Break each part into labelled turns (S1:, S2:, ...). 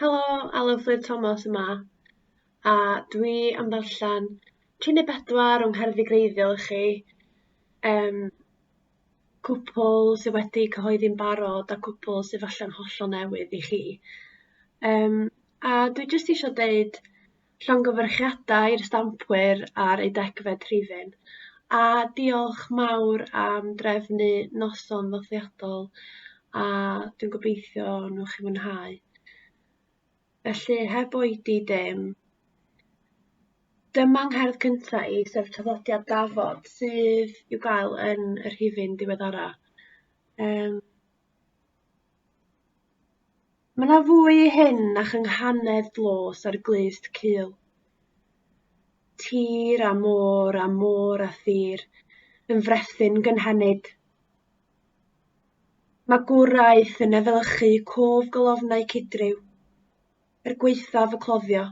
S1: Helo, Alun Fflur Thomas yma, a dwi am ddarllen tri neu bedwar o'n ngerddi greiddiol i chi. Um, cwpl sydd wedi cyhoeddi'n barod a cwpl sydd falle'n hollol newydd i chi. Um, a dwi jyst eisiau deud llongyfarchiadau i'r stampwyr ar eu degfed rhifyn, a diolch mawr am drefnu noson ddyddiadol a dwi'n gobeithio nhw chi mwynhau. Felly, heb oedi dim, dyma ngherdd cynta i, sef traddodiad Dafod, sydd i'w gael yn y rhifyn diweddara. Um, Mae yna fwy i hyn na chynghanedd dlos a'r glust cul. Tir a môr a môr a thir yn frethyn gynhenid. Mae gwraeth yn efelychu cof golofnau cydryw, er gwaethaf y cloddio.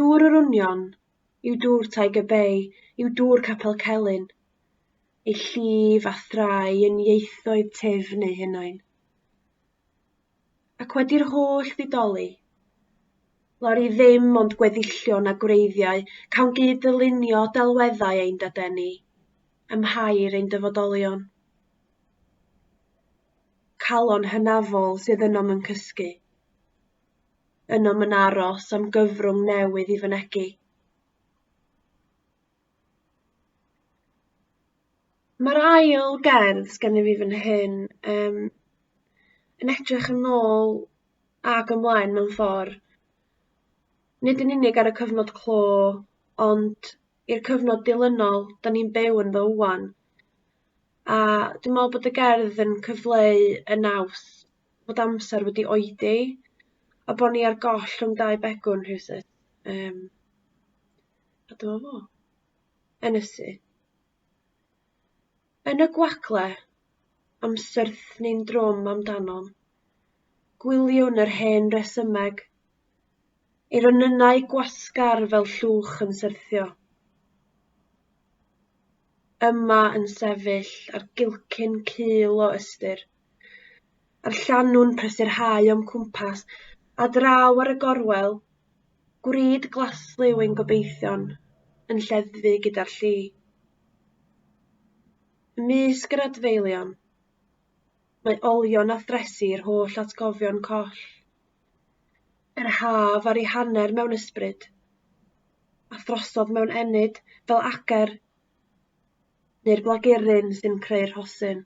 S1: Dŵr yr Union yw dŵr Tiger Bay, yw dŵr Capel Celyn, ei llif a thrai yn ieithoedd tef neu hunain. Ac wedi'r holl ddidoli, lori ddim ond gweddillion a gwreiddiau cawn gyd ddylunio delweddau ein dadeni, ymhair ein dyfodolion. Calon hynafol sydd ynom yn cysgu, ynom yn aros am gyfrwng newydd i fynegi. Mae'r ail gerdd sgennyf fi fan hyn, yym, yn edrych yn ôl ac ymlaen mewn ffordd, nid yn unig ar y cyfnod clo, ond i'r cyfnod dilynol 'dan ni'n byw ynddo ŵan, a dwi me'wl bod y gerdd yn cyfleu y naws bod amser wedi oedi, a bo' ni ar goll rhwng dau begwn rhywsut, yym. A dyma fo. Ynysu. Yn y gwagle, am syrthni'n drwm amdanom, gwyliwn yr hen resymeg, ei ronynnau gwasgar fel llwch yn syrthio. Yma yn sefyll ar gilcyn cul o ystyr, a'r llanw'n prysyrhau o'm cwmpas, a draw ar y gorwel, gwrid glaslyw ein gobeithion yn lleddfu gyda'r lli. Ymysg yr adfeilion, mae olion a thresi i'r holl atgofion coll. Yr haf ar ei hanner mewn ysbryd, a throsodd mewn ennyd fel ager neu'r blagurin sy'n creu'r rhosyn.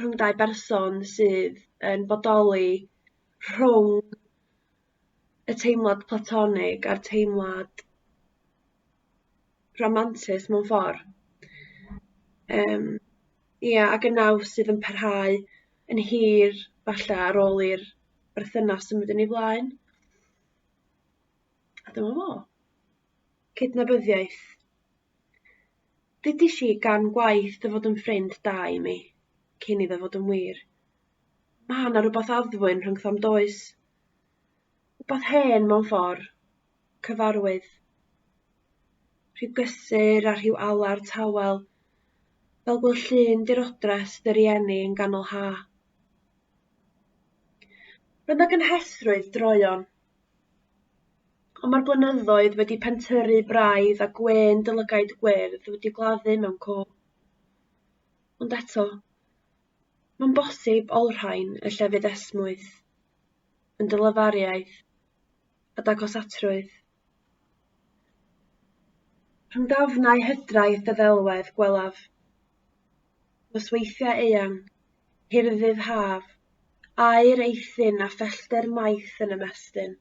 S1: rhwng dau berson sydd yn bodoli rhwng y teimlad platonig a'r teimlad rhamantus mewn ffordd. Yym ia ac yn naw sydd yn parhau yn hir falle ar ôl i'r berthynas symud yn ei flaen. A dyma fo. Cydnabyddiaeth. Ddudish i gan gwaith dy fod yn ffrind da i mi, cyn iddo fod yn wir. Ma' 'na rwbath addfwyn rhyngthom does? Wbath hen mewn ffor', cyfarwydd. Rhyw gysur a rhyw alar tawel, fel gwel' llun dirodres dy rieni yn ganol ha'. Roedd 'na gynhesrwydd droeon Ond mae'r blynyddoedd wedi pentyrru braidd a gwên dy lygaid gwyrdd wedi gladdu mewn cof. Ond eto, mae'n bosib olrhain y llefydd esmwyth yn dy lyfariaeth a dagosatrwydd. Rhwng dafnau hydraeth y ddelwedd gwelaf, nosweithiau eang, hirddydd haf, aer eithin a phellter maith yn ymestyn.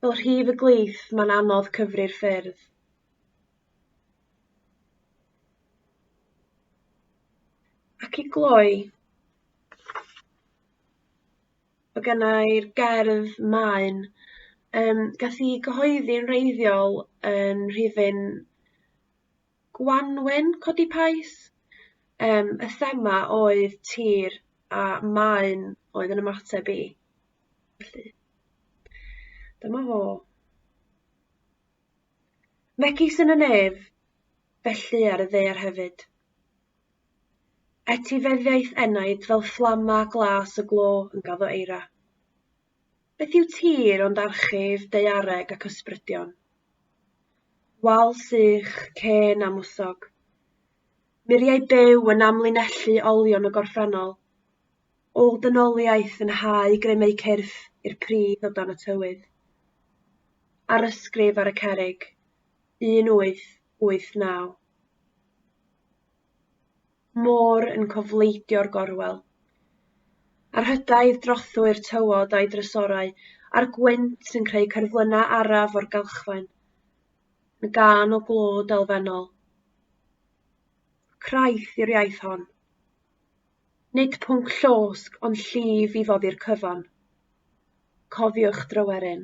S1: Fel rhif y gleith, mae'n anodd cyfri'r ffyrdd. Ac i gloi, o gennau'r gerdd maen, um, gath i gyhoeddi yn reiddiol yn rhifyn Gwanwyn codi Pais yym y thema oedd tir a maen oedd yn ymateb i. Felly dyma fo. Megis yn y nef, felly ar y ddear hefyd. Etifeddiaeth enaid fel fflama glas y glo yn gaddo eira. Beth yw tir ond archif daeareg ac ysbrydion? Wal sych, cên a mwsog. Muriau byw yn amlinellu olion y gorffennol. Ôl dynoliaeth yn hau gremau cyrff i'r pridd o dan y tywydd. Ar ysgrif ar y cerig, 1889. môr yn cofleidio'r gorwel. A'r hydaid drothwy'r tywod a'i drysorau, a'r gwynt yn creu cyrflynna araf o'r galchfaen, yn gan o glod elfennol. Craith yw'r iaith hon. Nid pwnc llosg ond llif i foddi'r cyfan. Cofiwch dryweryn.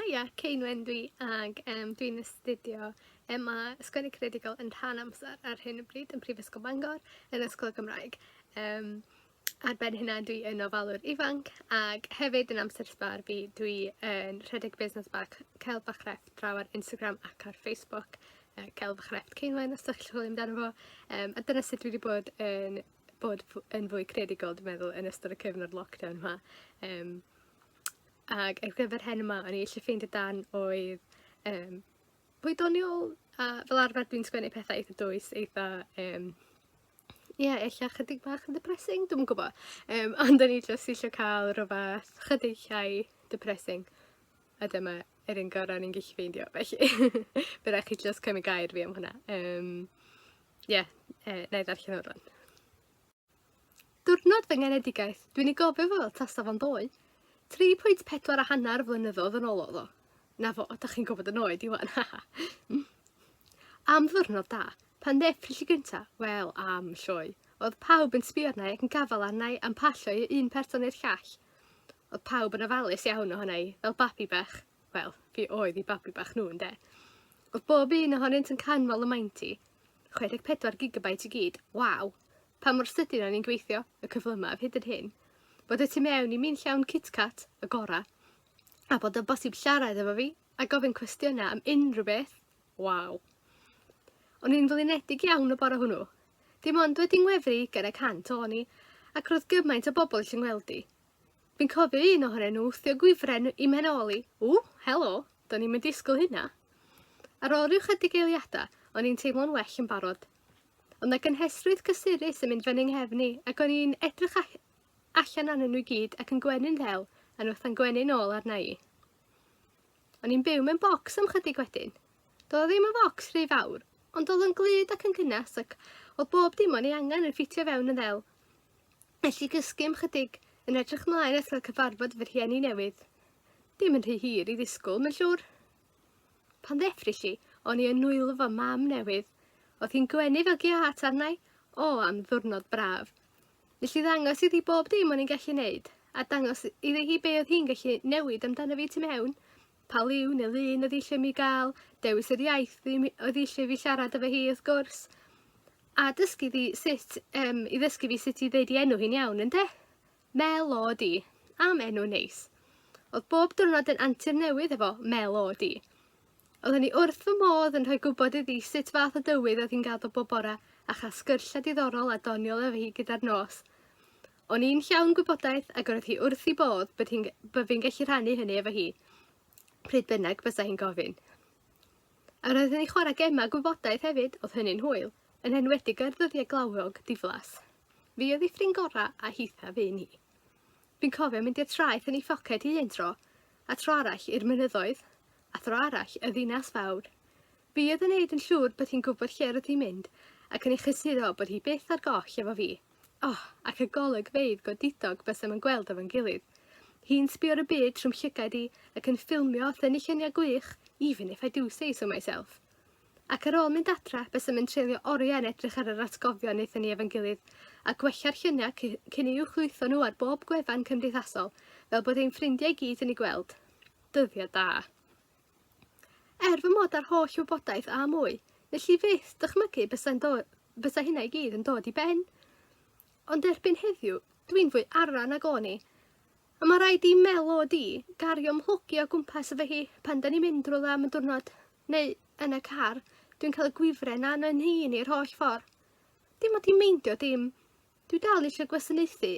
S1: Haia, Ceinwen dwi ag um, dwi'n astudio yma Ysgrifennu Creadigol yn rhan amser ar hyn o bryd yn Prifysgol Bangor yn Ysgol Gymraeg. Um, ar ben hynna dwi yn ofalwr ifanc ac hefyd yn amser sbar fi dwi yn rhedeg busnes bach Celf a Chrefft draw ar Instagram ac ar Facebook uh, Celf a Chrefft Ceinwen os ydych chi'n chwilio amdano fo um, a dyna sut dwi wedi bod yn bod yn fwy creadigol dwi'n meddwl yn ystod y cyfnod lockdown yma. Um, Ac ar gyfer hyn yma o'n i eisiau ffeindio dan oedd um, pwy doniol a fel arfer dwi'n sgwennu pethau eitha dwys, eitha um, ie, yeah, eich chydig bach yn depressing, dwi'n yn gwybod. Um, ond o'n i just eisiau cael rhywbeth chydig llai depressing. A dyma yr un gorau ni'n gallu ffeindio, felly bydd rhaid chi just cymryd gair fi am hwnna. Um, yeah, uh, na i ddarllen o'r rhan. Diwrnod fy ngenedigaeth, dwi'n ei gofio fo fel tasa fo'n ddoe. 3.4 a hanner flynyddoedd yn ôl oedd o. Na fo, da chi'n gwybod yn oed i wan. am ddwrnod da, pan ddeffrys i gynta, wel am lloi. Oedd pawb yn sbio arna i ac yn gafal arna i am pasio i un person i'r llall. Oedd pawb yn ofalus iawn ohona i, fel babi bach. wel, fi oedd 'u babi bach nhw ynde? Oedd bob un ohonynt yn canmol y maint i. 64 gigabyte i gyd, waw! Pa mor sydyn o'n i'n gweithio, y cyflymaf hyd yn hyn, bod y tu mewn i mi'n llawn KitKat, y gora, a bod yn bosib siarad efo fi a gofyn cwestiynau am unrhyw beth, waw! O'n i'n flinedig iawn y bore hwnnw. Dim ond wedi ngwefru gan y cant o'n i, ac roedd gymaint o bobl eisiau ngweld i. Fi'n cofio un ohonyn nhw wthio gwifren i mhenoli. Ww, helo, do'n i'm yn disgwyl hynna. Ar ôl rhyw chydig eiliadau, o'n i'n teimlo'n well yn barod. Ond na gynhesrwydd cysurus yn mynd fy nghefn i, ac o'n i'n edrych allan arnyn nhw i gyd ac yn gwenu'n ddel, a nhw wrtha'n gwenu'n ôl arna i. O'n i'n byw mewn bocs am chydig wedyn. Doedd o ddim yn focs rhy fawr, ond oedd o'n glyd ac yn gynnes ac oedd bob dim o'n ei angen yn ffitio fewn yn ddel. Felly cysgym 'chydig, yn edrych 'mlaen at gael cyfarfod fy rhieni newydd. Dim yn rhy hir i ddisgwl, mae'n siŵr. Pan ddeffrys i, o'n i yn nwylo fy mam newydd. Oedd hi'n gwenu fel giât arnau, o am ddwrnod braf. Nes i ddangos iddi bob dim o'n i'n gallu neud, a dangos iddi hi be oedd hi'n gallu newid amdano fi tu mewn. Pa liw neu lun oedd eisiau mi gael, dewis yr iaith oedd eisiau fi siarad efo hi wrth gwrs, a dysgu fi sut, um, i ddysgu fi sut i ddeud i enw hi'n iawn, ynddo? Mel o di, am enw neis. Oedd bob diwrnod yn antur newydd efo mel o di. Oedd hynny wrth fy modd yn rhoi gwybod iddi sut fath o dywydd oedd hi'n gael bob bora a chael sgyrsiau diddorol a doniol efo hi gyda'r nos. O'n i'n llawn gwybodaeth ac roedd hi wrth i bodd bod hi'n bod fi'n gallu rhannu hynny efo hi, pryd bynnag fysa hi'n gofyn. A roedd hi'n chwarae gemau gwybodaeth hefyd, oedd hynny'n hwyl, yn enwedig ar ddyddiau glawog diflas. Fi oedd ei ffrind gorau a hitha fi ni. Fi'n cofio mynd i'r traeth yn ei ffoced hi un tro, a tro arall i'r mynyddoedd, a thro arall y ddinas fawr. Fi oedd yn neud yn llwr bod hi'n gwybod lle roedd hi'n mynd ac yn ei chysiddo bod hi byth ar goll efo fi. Oh, ac y golygfeydd godidog bysem yn gweld efo'n gilydd. Hi'n sbio ar y byd trw'm llygaid i ac yn ffilmio a thynnu lluniau gwych, even if I do say so myself. Ac ar ôl mynd adra, bysem yn treulio oriau yn edrych ar yr atgofion wnaethon ni efo'n gilydd, a gwella'r lluniau cyn i uwchlwytho nhw ar bob gwefan cymdeithasol, fel bod ein ffrindiau i gyd yn eu gweld. Dyddiau da. Er fy mod â'r holl wybodaeth a mwy, nes i fyth dychmygu bysai'n dod, bysai hynna i gyd yn dod i ben. Ond erbyn heddiw, dwi'n fwy arra nag o'n i. A mae rhaid i Melo di gario mhlygu o gwmpas efo hi pan da ni'n mynd rhywle am y diwrnod, neu yn y car, dwi'n cael y gwifren na yn hun i'r holl ffordd. Dim ond i meindio dim. Dwi dal eisiau gwasanaethu,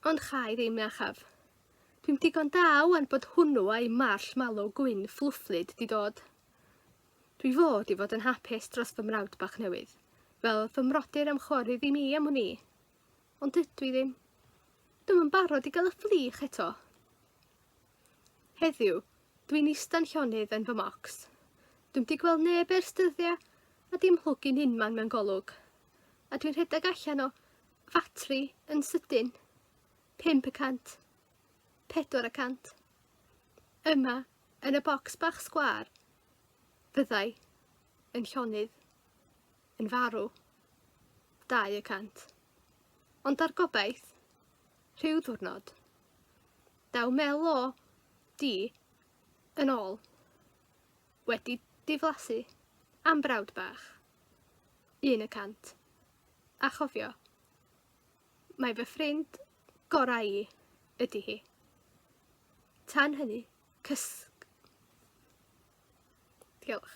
S1: Ond cha i ddim, iachaf. Dwi'm digon da ŵan bod hwnnw a'i marsh mallow gwyn fflwfflyd di dod. Dwi fod i fod yn hapus dros fy mrawd bach newydd, fel fy mrodyr am chwarae i mi am hwn i. Ond dydw i ddim. Dwi'm yn barod i gael y fflych eto. Heddiw, dwi'n ista'n llonydd yn fy mocs. Dwi'n di gweld neb ers dyddiau a dim hlwgyn unman mewn golwg. A dwi'n rhedeg allan o ffatri yn sydyn, 5 y cant, 4 y cant. Yma, yn y bocs bach sgwar, fyddai yn llonydd, yn farw, 2 y cant. Ond ar gobaith, rhyw ddwrnod, daw mel o di yn ôl, wedi diflasu am brawd bach, 1 y cant. A chofio, mae fy ffrind gorau i ydy hi. Tan hynny, cysg. Diolch.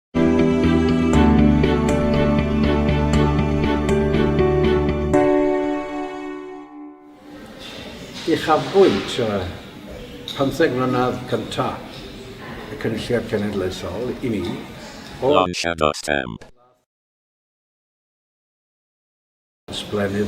S1: Uchafbwynt y pymtheg mlynedd cyntaf y Cynulliad Cenedlaethol i mi oedd... Lunch at a Stamp. ...ysblennydd.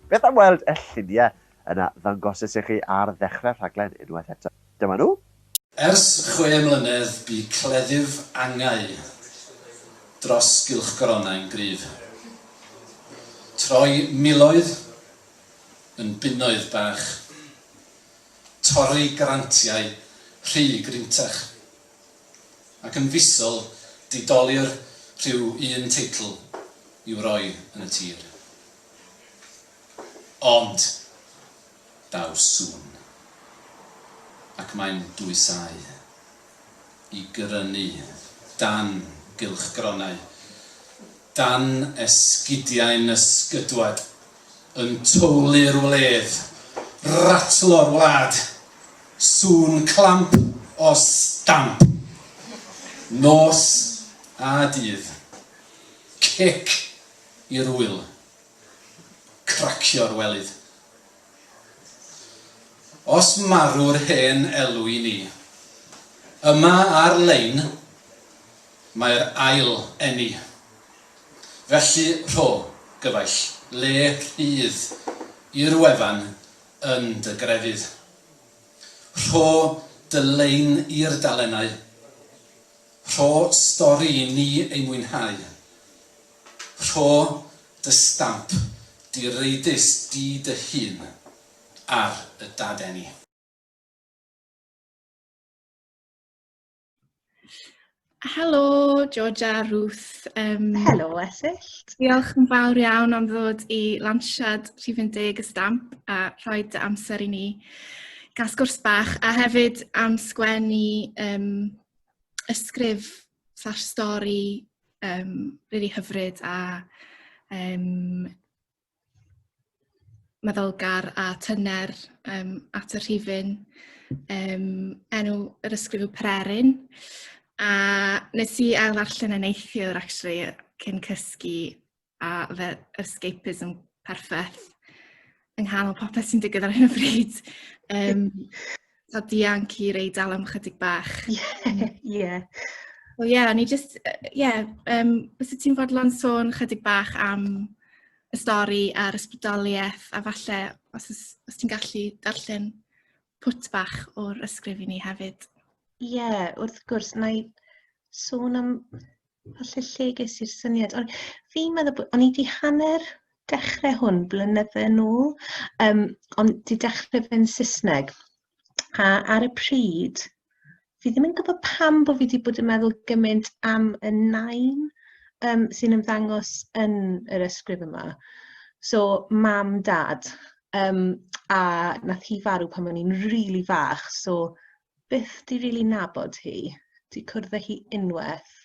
S1: Beth am weld y lluniau yna ddangosis i chi ar ddechrau'r rhaglen unwaith eto? Dyma nhw. Ers chwe mlynedd bu cleddyf angau dros gylchgoronau'n gryf. Troi miloedd yn bunnoedd bach. Torri grantiau rhy gryntach. Ac yn fisol didolir rhyw un teitl i'w roi yn y tir. Ond daw sŵn, ac mae'n dwysáu i grynu dan gylchgronau, dan esgidiau nysgydwad, yn twli'r wledd, ratlo'r wlad, sŵn clamp o stamp, nos a dydd, cic i'r ŵyl. Cracio'r welydd. Os marw'r hen elw i ni. Yma ar lein mae'r ail eni. Felly rho, gyfaill, le rhydd i'r wefan yn dy grefydd. Rho dy lein i'r dalennau. Rho stori i ni ei mwynhau. Rho dy stamp direidus di dy hun ar y dadeni. Helo George a Ruth. Um, Helo Esyllt. Diolch yn fawr iawn am ddod i lansiad rhifyn deg y stamp a rhoi dy amser i ni gael sgwrs bach a hefyd am sgwennu um, ysgrif fatha'r stori um, really hyfryd a um, meddylgar a tyner um, at y rhifyn. Um, enw yr ysgrif yw Pererin. A nes i ail ddarllen yn neithiwr, actually, cyn cysgu, a fe escapism perffaith yng nghanol popeth sy'n digwydd ar hyn o bryd. Um, so dianc i rei dal am chydig bach. Ie. Yeah, yeah. Wel ie, yeah, ni just, ie, uh, yeah, um, bys ti'n fodlon sôn chydig bach am y stori a'r ysbrydoliaeth a falle os, os ti'n gallu darllen pwt bach o'r ysgrif i ni hefyd. Ie, yeah, wrth gwrs, na i sôn am Falle lle ges i'r syniad. Ond fi'n meddwl bod... O'n i wedi hanner dechrau hwn blynydde yn ôl, um, ond di dechrau fe'n Saesneg. A ar y pryd, fi ddim yn gwybod pam bod fi wedi bod yn meddwl gymaint am y nain um, sy'n ymddangos yn yr ysgrif yma. So, mam, dad. Um, a nath hi farw pan o'n i'n rili really fach, so byth 'di rili nabod hi, 'di cwrdd â hi unwaith,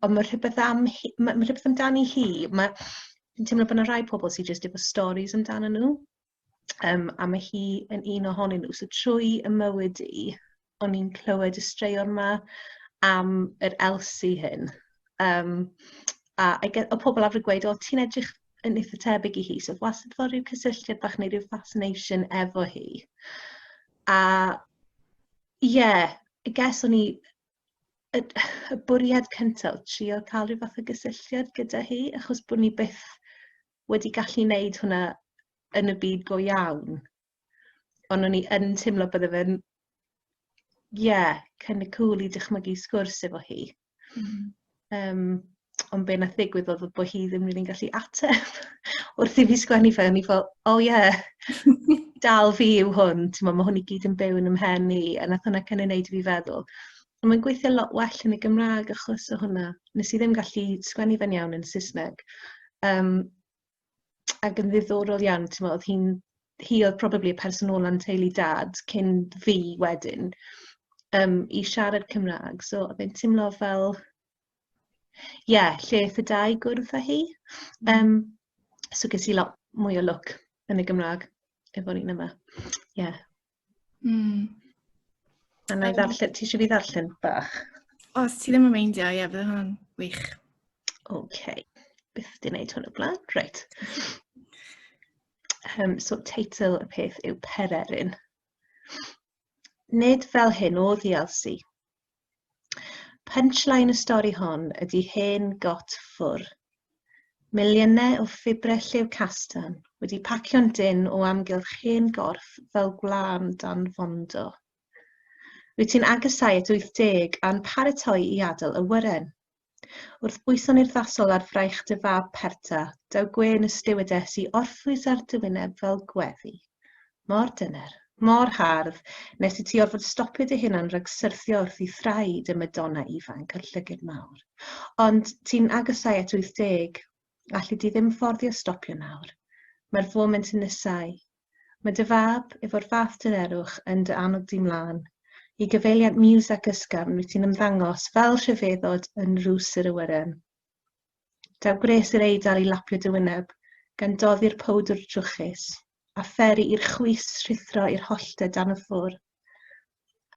S1: ond ma' rhywbeth am hi ma' ma' rhywbeth amdani hi, ma' fi'n teimlo bod 'na rai pobl sy jyst efo storis amdano nhw, um, a mae hi yn un ohonyn nhw. So trwy y mywyd i, o'n i'n clywed y straeon 'ma am yr Elsie hyn. Um, a I get, o pobl arfer gweud, o ti'n edrych yn eitha tebyg i hi, so wastad fel rhyw cysylltiad bach neu rhyw fascination efo hi. A ie, I guess o'n i... y y bwriad cyntaf oedd trio cael rhyw fath o gysylltiad gyda hi, achos bod ni byth wedi gallu wneud hwnna yn y byd go iawn. Ond o'n i yn teimlo bydde fe'n ie, kind of cŵl i dychmygu sgwrs efo hi. Mm. Um, ond be nath ddigwydd oedd bod hi ddim rili'n gallu ateb wrth i fi sgwennu fe, o'n i fel, oh yeah, dal fi yw hwn, ti'n mae hwn i gyd yn byw yn ymhen i, a nath hwnna cynnig wneud i fi feddwl. Ond mae'n gweithio lot well yn y Gymraeg achos o hwnna. Nes i ddim gallu sgwennu fe'n iawn yn Saesneg. Um, ac yn ddiddorol iawn, ti'n meddwl, oedd hi'n, hi oedd probably y person ôl yn teulu dad cyn fi wedyn, um, i siarad Cymraeg. So, oedd e'n teimlo fel, ie, yeah, lle y dau gwrdd â hi. Um, so, ges i lot mwy o look yn y Gymraeg efo ni'n yma. Ie. Yeah. Mm. A na i ddarllen, ti eisiau fi ddarllen bach? Os ti ddim yn meindio, ie, bydd hwnna'n wych. OK. Byth di wneud hwn o blaen. Reit. Um, so, teitl y peth yw Pererin. Nid fel hyn oedd i Elsie. Punchline y stori hon ydy hen got ffwr. Miliynau o ffibrau lliw castan wedi pacio'n dynn o amgylch hen gorff fel gwlân dan fondo. Wyt ti'n agosáu at 80 a'n paratoi i adael y wyren? Wrth bwyso'n urddasol ar fraich dy fab perta, daw gwên y stiwades i orffwys ar dy wyneb fel gweddi. Mor dyner, mor hardd, nes i ti orfod stopio dy hunan rhag syrthio wrth i thraed y Madonna ifanc a'r llyged mawr. Ond ti'n agosau at 80. Alli di ddim fforddio stopio nawr. Mae'r foment yn nesáu. Mae dy fab, efo'r fath dynerwch, yn dy annog di mlân i gyfeiliant miws ac ysgafn wyt ti'n ymddangos fel rhyfeddod yn nrws yr awyren. Daw gwres i'r Eidal i lapio dy wyneb, gan doddi'r powdwr drwchus, a pheri i'r chwys rhuthro i'r holltau dan y ffwr.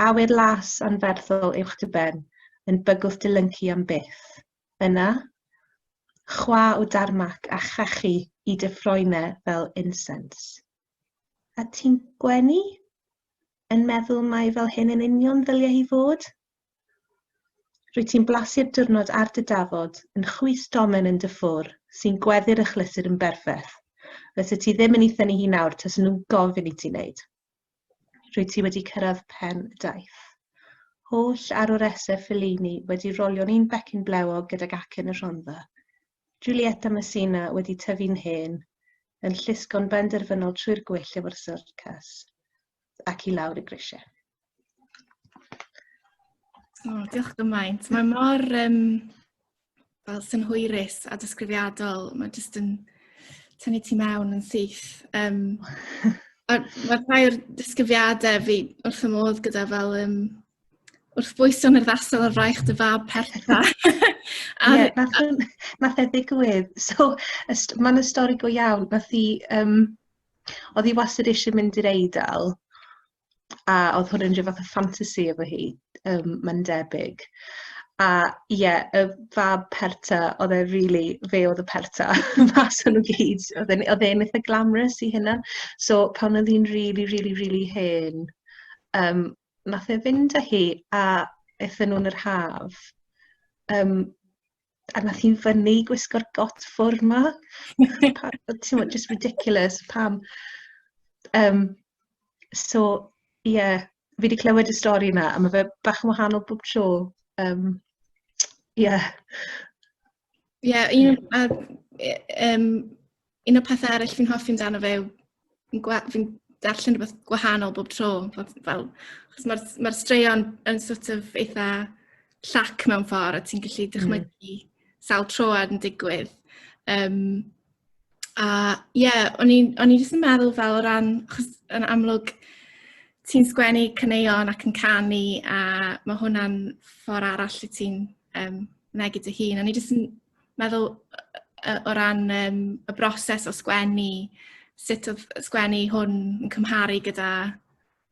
S1: Awyr las anferthol uwch dy ben, yn bygwth dy lyncu am byth. Yna, chwa o darmac a chachu i dy ffroime fel insens. A ti'n gwenu? Yn meddwl mai fel hyn yn union ddyliau hi fod? Rwy ti'n blasu'r diwrnod ar dy dafod, yn chwys domen yn dy ffwr, sy'n gweddu'r achlysur yn berffaith. Fysa ti ddim yn ei thynnu hi nawr tase nhw'n gofyn i ti wneud. Rwyt ti wedi cyrraedd pen y daith. Holl arwresedd Fellini wedi rolio'n un becyn blewog gydag acen y Rhondda. Giulietta Messina wedi tyfu'n hen, yn llusgo'n benderfynol trwy'r gwyll efo'r syrcas, ac i lawr y grisiau. O, diolch gymaint. Mae mor um, fel synhwyrus a disgrifiadol, mae jyst yn tynnu ti mewn yn syth. Um, a mae rhai o'r disgrifiadau fi wrth y modd gyda fel um, wrth bwyso yn yr ddasol ar fraich dy fab pertha. Ie, nath e ddigwydd. So, mae'n y stori go iawn. Nath i, um, oedd hi wastad eisiau mynd i'r eidl, a oedd hwn yn rhyw fath o ffantasi efo hi, um, mae'n debyg. A ie, yeah, y fab perta, oedd e really, fe oedd y perta mas o'n nhw gyd. Oedd e'n oedd e'n eitha glamrus i hynna. So pan oedd hi'n really, really, really hen, um, nath e fynd â hi a eitha nhw'n yr haf. Um, a nath hi'n fyny gwisgo'r got ffwr ma. Ti'n mwyn, just ridiculous, pam. Um, so, ie, yeah, fi wedi clywed y stori yna, a mae fe bach yn wahanol bob tro. Um, yeah. Ie, yeah, un, um, Un o'r pethau eraill fi'n hoffi amdano fe yw fi'n gwa- fi'n darllen rhywbeth gwahanol bob tro fel fel achos ma'r s- ma'r straeon yn sort of eitha llac mewn ffor a ti'n gallu dychmygu sawl tro a o'dd yn digwydd yym a ie o'n i'n o'n i jyst yn meddwl fel o ran achos yn amlwg ti'n sgwennu caneuon ac yn canu a ma' hwnna'n ffor arall lle ti'n yym mynegi dy hun a o'n i jyst yn meddwl yy o ran yym y broses o sgwennu sut oedd sgwennu hwn yn cymharu gyda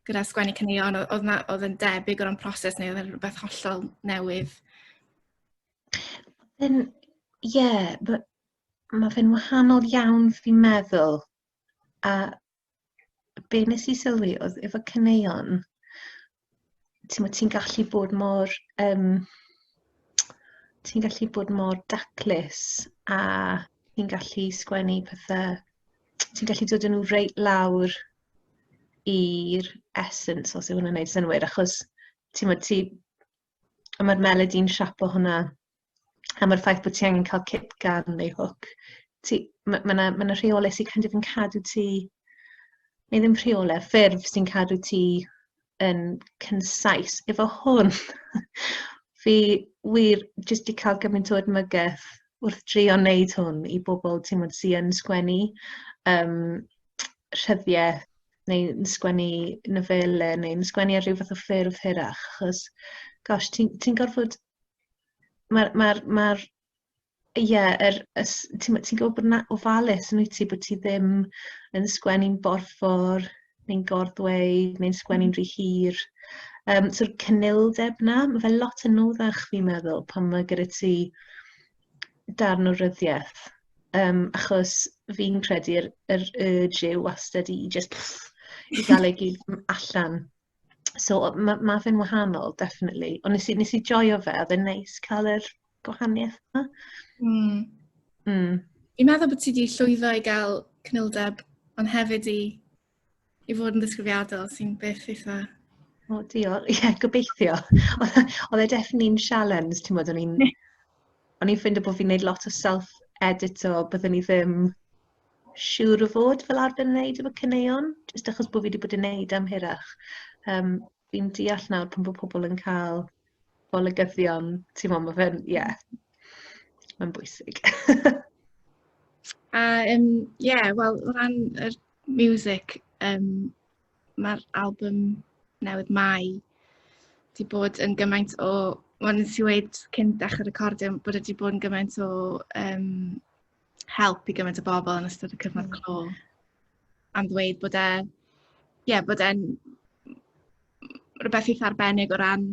S1: gyda sgwennu caneuon o- oedd 'na oedd yn debyg o ran proses neu oedd e'n rwbeth hollol newydd? Yn ie ma' ma' fe'n wahanol iawn fi'n meddwl a be nes i sylwi oedd efo caneuon, ti'n ti gallu bod mor, um, ti'n gallu bod mor daclus a ti'n gallu sgwennu pethau, ti'n gallu dod yn nhw reit lawr i'r essence, os yw hwnna'n gwneud synwyr, achos ti'n ti, A mae'r melody yn siapo hwnna. A mae'r ffaith bod ti angen cael cip gan neu hwc. Mae yna ma ma rheolau sy'n kind of yn cadw ti... neu ddim rheolau, ffurf sy'n cadw ti yn cynsais. Efo hwn, fi wir jyst di cael gymaint o edmygedd wrth drio wneud hwn i bobl ti'n mwyn sy'n sgwennu um, rhyddiau neu'n sgwennu nofele, neu'n sgwennu ar rhyw fath o ffurf hirach, achos, gosh, ti'n ti gorfod... Mae'r, mae'r, mae'r, ie, yeah, er, ti'n ti gwybod bod yna ofalus yn wyt ti, bod ti ddim yn sgwennu'n borffor, neu'n gorddweud, neu'n sgwennu'n mm. rhy hir. Um, So'r cynildeb na, mae fe lot yn anoddach fi'n meddwl pan mae gyda ti darn o ryddiaith um, achos fi'n credu'r yr urge yw wastad i just i gael ei gyd allan. So mae ma fe'n wahanol, definitely. Ond nes i, nes i joio fe, oedd e'n neis cael yr gwahaniaeth yma. Mm. Mm. I'n meddwl bod ti wedi llwyddo i gael cnildeb, ond hefyd i i fod yn ddisgrifiadol sy'n beth eitha O, diolch. Ie, yeah, gobeithio. Oedd e definitely yn sialens, ti'n bod, o'n i'n... O'n i'n ffeindio bod fi'n gwneud lot o self-edit o byddwn i ddim siŵr o fod fel arfer yn gwneud efo cyneuon, jyst achos bod fi wedi bod yn gwneud am hirach. Um, fi'n deall nawr pan bod pobl yn cael golygyddion, ti'n mo, mae fe'n, ie, yeah, mae'n bwysig. A, um, ie, yeah, wel, o ran yr miwsic yym mae'r albwm newydd 'Mai' 'di bod yn gymaint o... Wel nes i weud cyn dechre recordio bod e 'di bod yn gymaint o yym help i gymaint o bobl yn ystod y cyfnod clo am ddweud bod e ie bod e'n rwbeth eitha arbennig o ran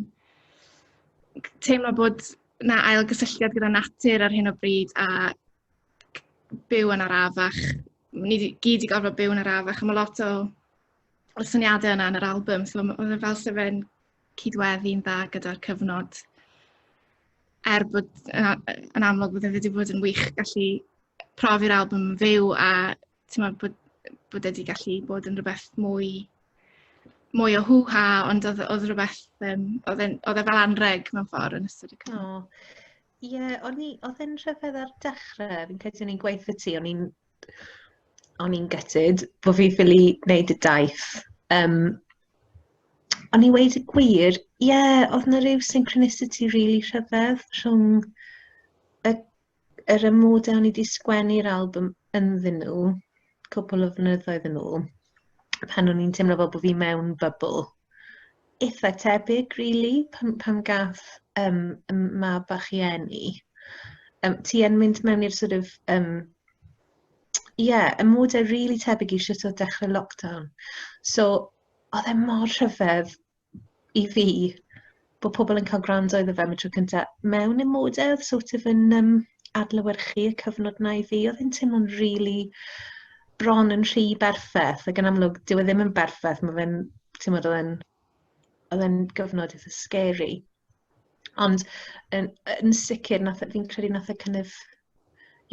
S1: teimlo bod 'na ailgysylltiad gyda natur ar hyn o bryd a byw yn arafach. Ni di, gyd wedi gorfod byw yn arafach a mae lot o y syniadau yna yn yr album. So oedd e fel sef fe'n cydweddu'n dda gyda'r cyfnod. Er bod yn, yn amlwg bod e wedi bod yn wych gallu profi'r album yn fyw a ti'n meddwl bod bod e wedi gallu bod yn rhywbeth mwy mwy o hwha ond oedd oedd rhywbeth um, oedd e'n oedd e fel anreg mewn ffordd yn ystod y cyfnod. Oh. Ie, yeah, o'n i, oedd e'n rhyfedd ar dechrau, fi'n credu o'n i'n gweithio ti, o'n i'n o'n i'n gytid bod fi ffili wneud y daith. Um, o'n i wedi gwir, ie, yeah, oedd yna rhyw synchronicity really rhyfedd rhwng y yr amodau o'n i wedi sgwennu'r album ynddyn nhw, cwpl o flynyddoedd yn ôl, pan o'n i'n teimlo fel bod fi mewn bubl. Eitha tebyg, really, pan, pan gath um, mab bach i enni. Um, ti yn mynd mewn i'r sort of... Um, yeah, y modau really tebyg i sut o dechrau lockdown. So, oedd e mor rhyfedd i fi, bod pobl yn cael gwrando iddo fe am y tro cyntaf, mewn y mode oedd sort of yn um, adlywyrchu y cyfnod na i fi, oedd yn teimlo'n rili really bron yn rhy berffaith, ac yn amlwg, dyw e ddim yn berffaith, mae fe'n, ti'n meddwl, oedd oedd e'n gyfnod eitha scary. Ond yn, yn sicr, fi'n credu nath e kind of,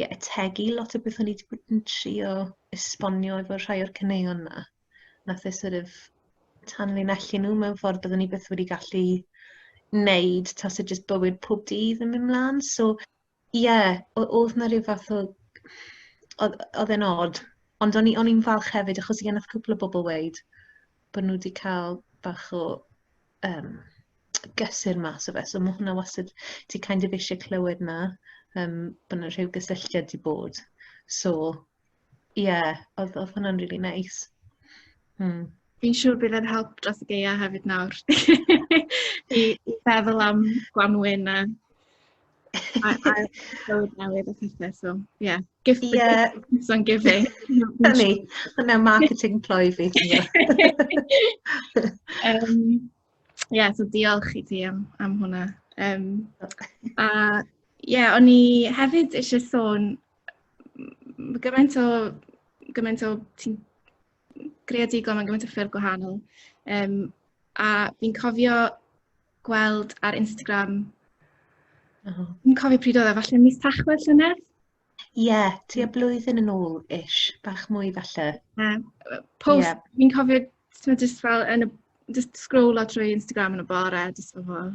S1: yeah, ategu lot o beth o'n i wedi bod yn trio esbonio efo rhai o'r cyneuon yna. nath e sort of tanlinellu nhw mewn ffordd byddwn ni byth wedi gallu wneud tas e jyst bywyd pob dydd yn mynd mlaen. So, ie, yeah, oedd na rhyw fath o... oedd e'n od. Ond o'n i'n falch hefyd, achos i gennych cwpl o bobl weid, bod nhw wedi cael bach o um, gysur mas o fe. So mae hwnna wastad, ti kind of eisiau clywed na, um, bod yna rhyw gysylltiad di bod. So, ie, oedd, oedd hwnna'n really neis. Nice. Hmm. Fi'n siŵr bydd e'n help dros y geia hefyd nawr. I, I feddwl am gwanwyn a a, a bywyd newydd a pethau, so, yeah. Gift yeah. gifts on giving. Hynny, hynna marketing ploy fi. um, Ie, yeah, so diolch i ti am, am hwnna. Um, a ie, yeah, o'n i hefyd eisiau sôn gymaint o, gymaint o ti'n greadigol mewn gymaint o ffyrdd gwahanol. Um, a fi'n cofio gweld ar Instagram, uh -huh. fi'n cofio pryd oedd e, falle mis tachwedd llynedd, Ie, tua blwyddyn yn ôl ish, bach mwy falle. Yeah. Post, yeah. fi'n cofio, ti'n just fel yn y, just scrollio trwy Instagram yn y bore, just fel fel.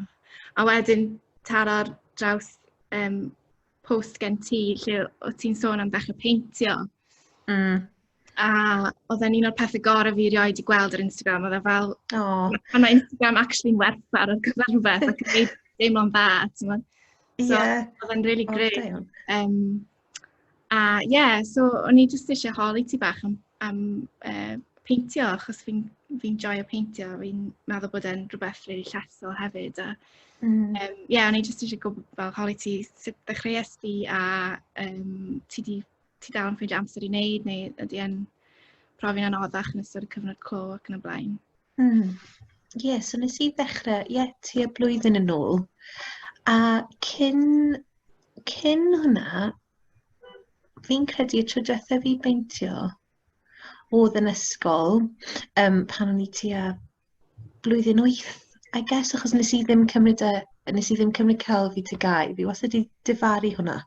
S1: A wedyn taro'r draws um, post gen ti lle o ti'n sôn am ddechrau peintio. Mm. a oedd e'n un o'r pethau gorau fi erioed wedi gweld ar Instagram, oedd e fel... O! ...pan mae Instagram actually'n werthfawr ar gyfer rhywbeth ac yn gwneud deimlo'n dda, timod. So... Ie. ...oedd e'n rili grêt. O da iawn. Yym, a ie, so o'n i jyst isie holi ti bach am am yy peintio achos fi'n fi'n joio peintio, fi'n meddwl bod e'n rhywbeth rili llesol hefyd a Mm. Yym ie, o'n i jyst isie gwbod fel holi ti sut ddechreuais di a yym ti 'di ti dal yn ffeindio amser i wneud neu ydy e'n profi'n anoddach yn ystod y cyfnod clo ac yn y blaen? Mm. Ie, yeah, so nes i ddechrau, ie, yeah, tua blwyddyn yn ôl. A cyn, cyn hwnna, fi'n credu y tro diwetha fi beintio oedd yn ysgol um, pan o'n i tua blwyddyn wyth, I guess, achos nes i ddim cymryd, e, nes i ddim cymryd celf i tygau. Fi wastad wedi difaru hwnna.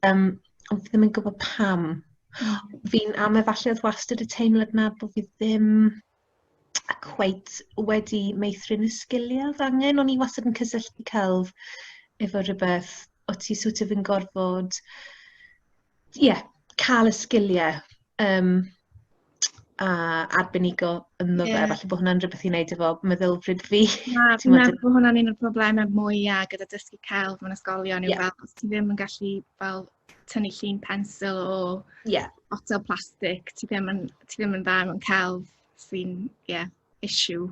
S1: Um, ond fi ddim yn gwybod pam. Mm. Fi'n am efallai oedd wastad y teimlad na bod fi ddim a cweit wedi meithrin y sgiliau oedd angen. O'n i wastad yn cysylltu celf efo rhywbeth o ti sŵt of yn gorfod ie, yeah, cael y sgiliau um, a arbenigo ynddo fe. Yeah. Falle bod hwnna'n rhywbeth i wneud efo meddylfryd fi. Na, ti'n meddwl bod hwnna'n un o'r problemau mwyaf gyda dysgu celf mewn ysgolion yw yeah. fel, os ti ddim yn gallu fel tynnu llun pensil o yeah. otel plastig, ti ddim yn, ti ddim yn dda mewn celf sy'n, ie, yeah, issue.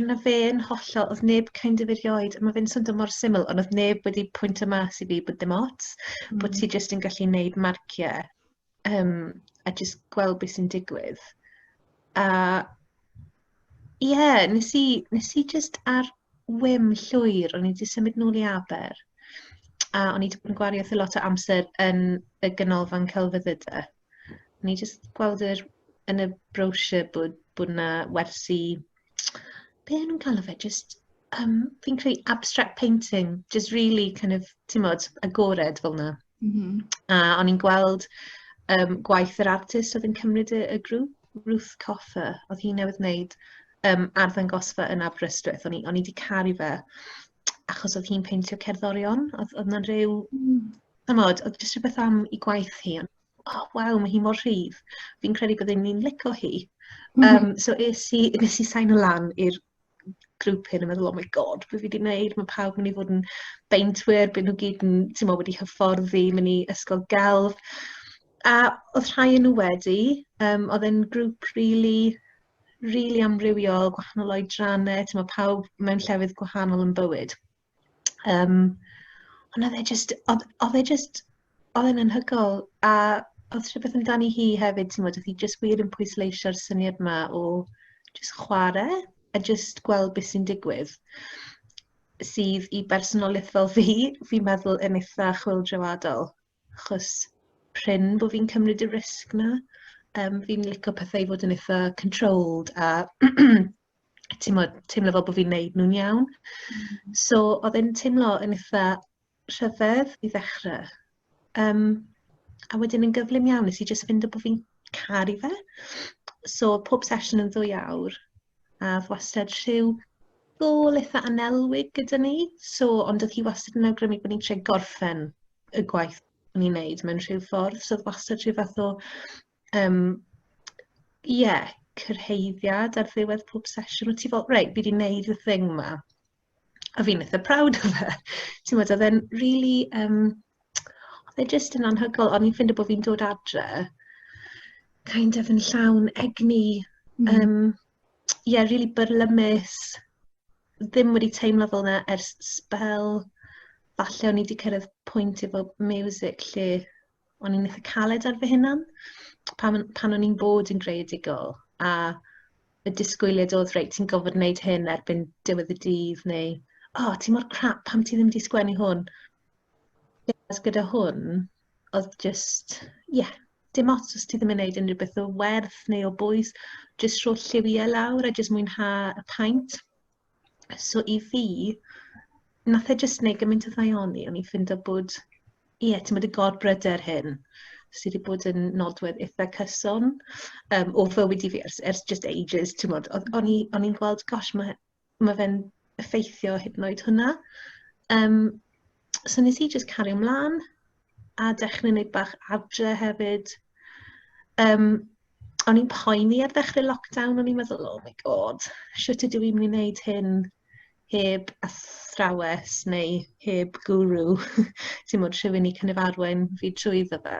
S1: Na fe'n hollol, oedd neb kind of erioed, mae fe'n swnio mor syml, ond oedd neb wedi pwynt y mas i fi bod dim ots, mm. bod ti jyst yn gallu neud marciau um, a jyst gweld beth sy'n digwydd. A ie, yeah, nes i, nes i jyst ar wym llwyr, o'n i wedi symud nôl i Aber, a o'n i wedi bod yn gwario thi lot o amser yn y ganolfan celfyddydau. O'n i jyst gweld yr, yn y brochure bod, bod yna wersi, be nhw'n cael o fe, jyst Um, fi'n credu abstract painting, just really kind of, ti'n modd, agored fel yna. Mm -hmm. A o'n i'n gweld um, gwaith yr artist oedd yn cymryd y, y grŵp, Ruth Coffer, oedd hi'n newydd wneud um, arddangosfa yn Aberystwyth. O'n i, on i wedi caru fe, achos oedd hi'n peintio cerddorion, oedd, oedd yna'n rhyw... Mm. Tymod, oedd jyst rhywbeth am i gwaith hi, ond oh, waw, mae hi mor rhydd. Fi'n credu byddwn ni'n lico hi. Um, so es i, nes i sain y lan i'r grŵp hyn yn meddwl, oh my god, beth fi wedi gwneud, mae pawb yn mynd i fod yn beintwyr, byd nhw gyd yn, ti'n meddwl, wedi hyfforddi, mynd i ysgol gelf. A oedd rhai yn nhw wedi, um, oedd e'n grŵp really, really amrywiol, gwahanol oedrannau, ti'n meddwl, pawb mewn llefydd gwahanol yn bywyd. Um, ond oedd e just, oedd, oedd e just, oedd e'n anhygol. A oedd rhywbeth amdani hi hefyd, ti'n modd, oedd hi just wir yn pwysleisio'r syniad yma o just chwarae a just gweld beth sy'n digwydd sydd i bersonoliaeth fel fi, fi'n meddwl yn eitha chwildroadol, achos pryn bod fi'n cymryd y risg na. Um, fi'n licio pethau i fod yn eitha controlled a timod, teimlo fel bod fi'n neud nhw'n iawn. Mm. So, oedd e'n teimlo yn eitha rhyfedd i ddechrau. Um, a wedyn yn gyflym iawn, nes i jyst fynd o bod fi'n caru fe. So, pob sesiwn yn ddwy awr, a wastad rhyw gol eitha anelwig gyda ni. So, ond oedd hi wastad yn awgrymu bod ni'n tre gorffen y gwaith ni'n neud mewn rhyw ffordd. So, oedd wastad rhyw fath o Yym, ie, cyrhaeddiad ar ddiwedd pob sesiwn. Wyt ti fel, reit, fi wedi wneud y thing ma. A fi'n eitha proud o fe. Ti'n meddwl, oedd e'n really... Um, oedd e jyst yn anhygoel. O'n i'n ffeindio bod fi'n dod adre kind of yn llawn egni. Mm. Um, yeah, really byrlymus. Ddim wedi teimlo fel yna ers spel. Falle o'n i wedi cyrraedd pwynt efo music lle o'n i'n eitha caled ar fy hunan pan, pan o'n i'n bod yn greadigol a y disgwyliad oedd reit ti'n gofod wneud hyn erbyn diwedd y dydd neu o oh, ti mor crap pam ti ddim wedi sgwennu hwn As gyda hwn oedd just ie yeah, dim ots os ti ddim yn gwneud unrhyw beth o werth neu o bwys just rho lliwiau lawr a just mwynhau y paint So i fi, nath e jyst neud gymaint o ddaioni, o'n i'n ffindo bod, ie, yeah, ti'n bod y gorbryder hyn sydd wedi bod yn nodwedd eitha cyson um, o fywyd i fi ers, ers just ages, ti'n bod, o'n i'n gweld, gosh, mae ma fe'n effeithio hyd yn oed hwnna. Um, so nes i just cario ymlaen, a dechrau'n neud bach adre hefyd. Um, o'n i'n poeni ar ddechrau lockdown, o'n i'n meddwl, oh my god, sut ydw i'n mynd i wneud hyn heb athrawes neu heb guru, ti'n modd rhywun i cynnyf arwain fi trwy dda fe.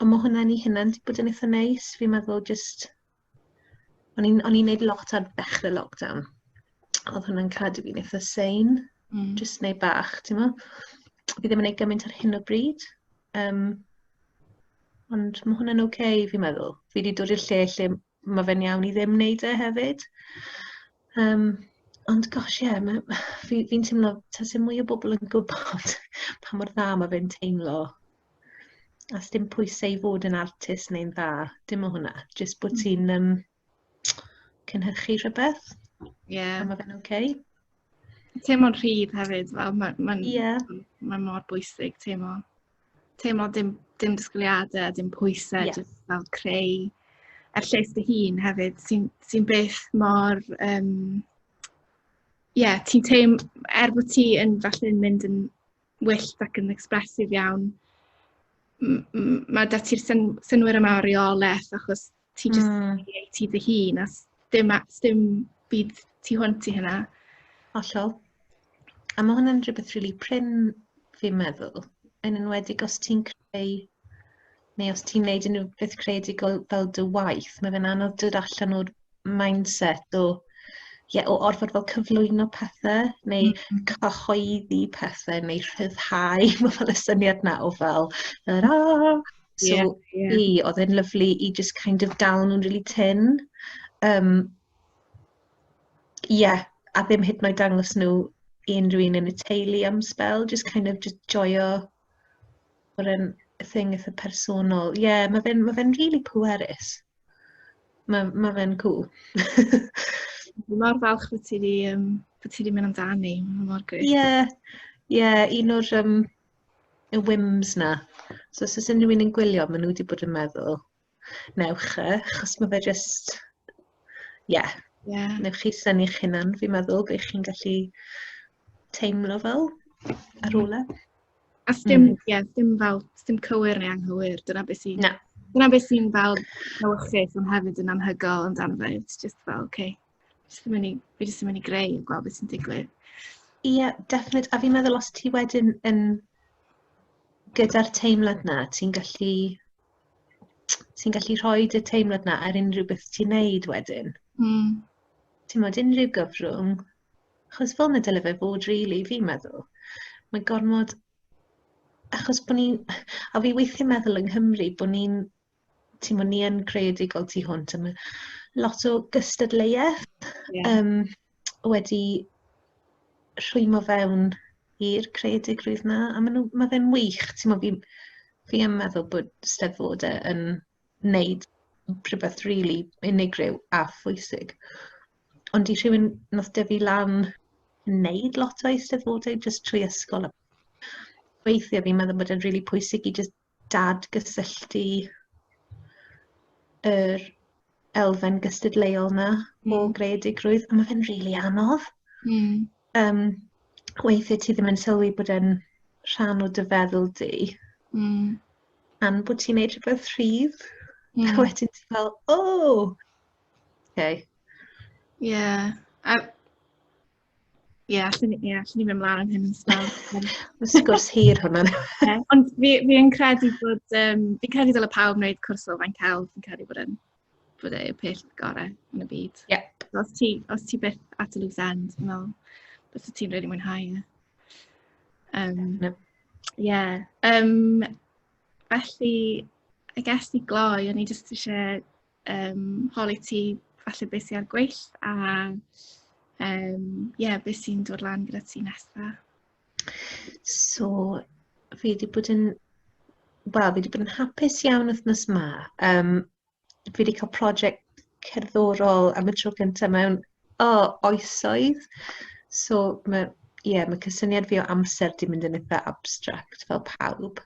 S1: Ond mae hwnna'n ei hynna'n wedi bod yn eitha neis, fi'n meddwl jyst O'n i'n o'n i'n neud lot ar ddechre lockdown. Oedd hwnna'n cadw fi'n eitha sein. Mm. Just neud bach, ti'n mo? Fi ddim yn neud gymaint ar hyn o bryd. Um, ond mae hwnna'n oce, okay, fi'n meddwl. Fi wedi dod i'r lle lle mae fe'n iawn i ddim neud e hefyd. Um, ond gosh, ie, yeah, fi'n fi, fi teimlo, ta sy'n mwy o bobl yn gwybod pa mor dda mae fe'n teimlo A sdim pwysau i fod yn artist neu'n dda, dim o hwnna. Jyst bod hmm. ti'n um, cynhyrchu rhywbeth. Ie. Yeah. A mae fe'n oce. Okay. Teimlo'n rhydd hefyd, fel mae'n ma, ma, yeah. ma mor bwysig teimlo. Teimlo dim, dim disgwyliadau, dim pwysau, yeah. jyst fel creu a'r lles dy hun hefyd, sy'n sy beth mor... Um, ie, yeah, ti'n teim, er bod ti yn falle yn mynd yn wyllt ac yn expressive iawn. M- m- ma' 'da ti'r syn- synnwyr yma o reolaeth achos ti jyst... hmm. ...yn neud ti dy hun a 'sdim a- 'sdim byd tu hwnt i hynna. Hollol. A ma' hwnna'n rhywbeth rili prin fi'n meddwl, yn enwedig os ti'n creu neu os ti'n neud unrhyw beth creadigol fel dy waith, mae fe'n anodd dod allan o'r mindset o ie, o orfod fel cyflwyno pethau neu mm. cyhoeddi pethau neu rhyddhau, mae fel y syniad na o fel, yr a, so yeah, yeah. i, oedd e'n lyflu i just kind of dal nhw'n really tin. Um, yeah, a ddim hyd yn oed dangos nhw i unrhyw un yn y teulu am spel, just kind of just joio bod e'n thing eitha personol. Ie, yeah, mae fe'n ma fe rili really pwerus. Mae ma fe'n cool. Dwi mor falch bod ti wedi um, bod ti wedi mynd amdani, mae mor gwych. Ie, yeah, ie, yeah, un o'r um, y whims na. So, os oes unrhyw un yn gwylio, maen nhw wedi bod yn meddwl, newch e, achos mae fe just... Ie. Yeah. Yeah. Newch chi syni eich hunan, fi'n meddwl, bych chi'n gallu teimlo fel ar ôl e. A dim, mm. yeah, dim fel, dim cywir neu anghywir, dyna beth sy'n... Na. Dyna beth sy'n fel newychus, ond hefyd yn anhygol ond dan fe. It's just fel, oce, okay. just yn mynd fi jyst yn mynd i greu a gweld beth sy'n digwydd. Ie, yeah, definite. A fi'n meddwl os ti wedyn yn gyda'r teimlad na, ti'n gallu sy'n gallu rhoi y teimlad na ar unrhyw beth ti'n neud wedyn. Mm. Ti'n modd unrhyw gyfrwng, achos fel na dyle fe fod rili, really, fi'n meddwl. Mae gormod, achos bod ni'n, a fi weithiau meddwl yng Nghymru bod ni'n, ti'n modd ni yn creadigol tu hwnt, am lot o gystadleuaeth. Yeah. Um, wedi rhwymo fewn i'r creadigrwydd 'na a ma' nw ma' fe'n wych t'mo' fi'n fi yn meddwl bod Steddfod yy yn neud rhywbeth rili unigryw a phwysig ond i rhywun nath dyfu lan yn neud lot o Eisteddfodau jyst trwy ysgol a weithie fi'n meddwl bod e'n rili pwysig i jyst dadgysylltu yr elfen gystadleuol yna mm. o hmm. greadigrwydd, a mae fe'n rili really anodd. Mm. Um, weithiau ti ddim yn sylwi bod e'n rhan o dy feddwl di. Mm. Am bod ti'n neud rhywbeth rhydd. Mm. A wedyn ti'n fel, o! Oh! Okay. Yeah. A Ie, allwn ni, ie, allwn ni mynd mlaen am hyn yn sgwrs. Mae sgwrs hir hwnna. yeah, ond fi, fi yn credu bod, um, fi'n credu dyle pawb wneud cwrs o fain cael, fi'n credu bod yn bod e yw'r peth gorau yn y byd. Yeah. Os ti, os ti beth at y loose end, yn ôl, bys ti'n rhaid i mwynhau e. Um, no. yeah. um, felly, I guess i gloi, o'n i jyst eisiau um, holi ti falle beth sy'n ar gweill a um, yeah, beth sy'n dod lan gyda ti nesaf. So, fi wedi bod yn, wel, fi wedi bod yn hapus iawn wythnos ma. Um, fi wedi cael prosiect cerddorol am y tro gyntaf mewn oh, oesoedd. So, mae yeah, mae cysyniad fi o amser di mynd yn eitha abstract fel pawb.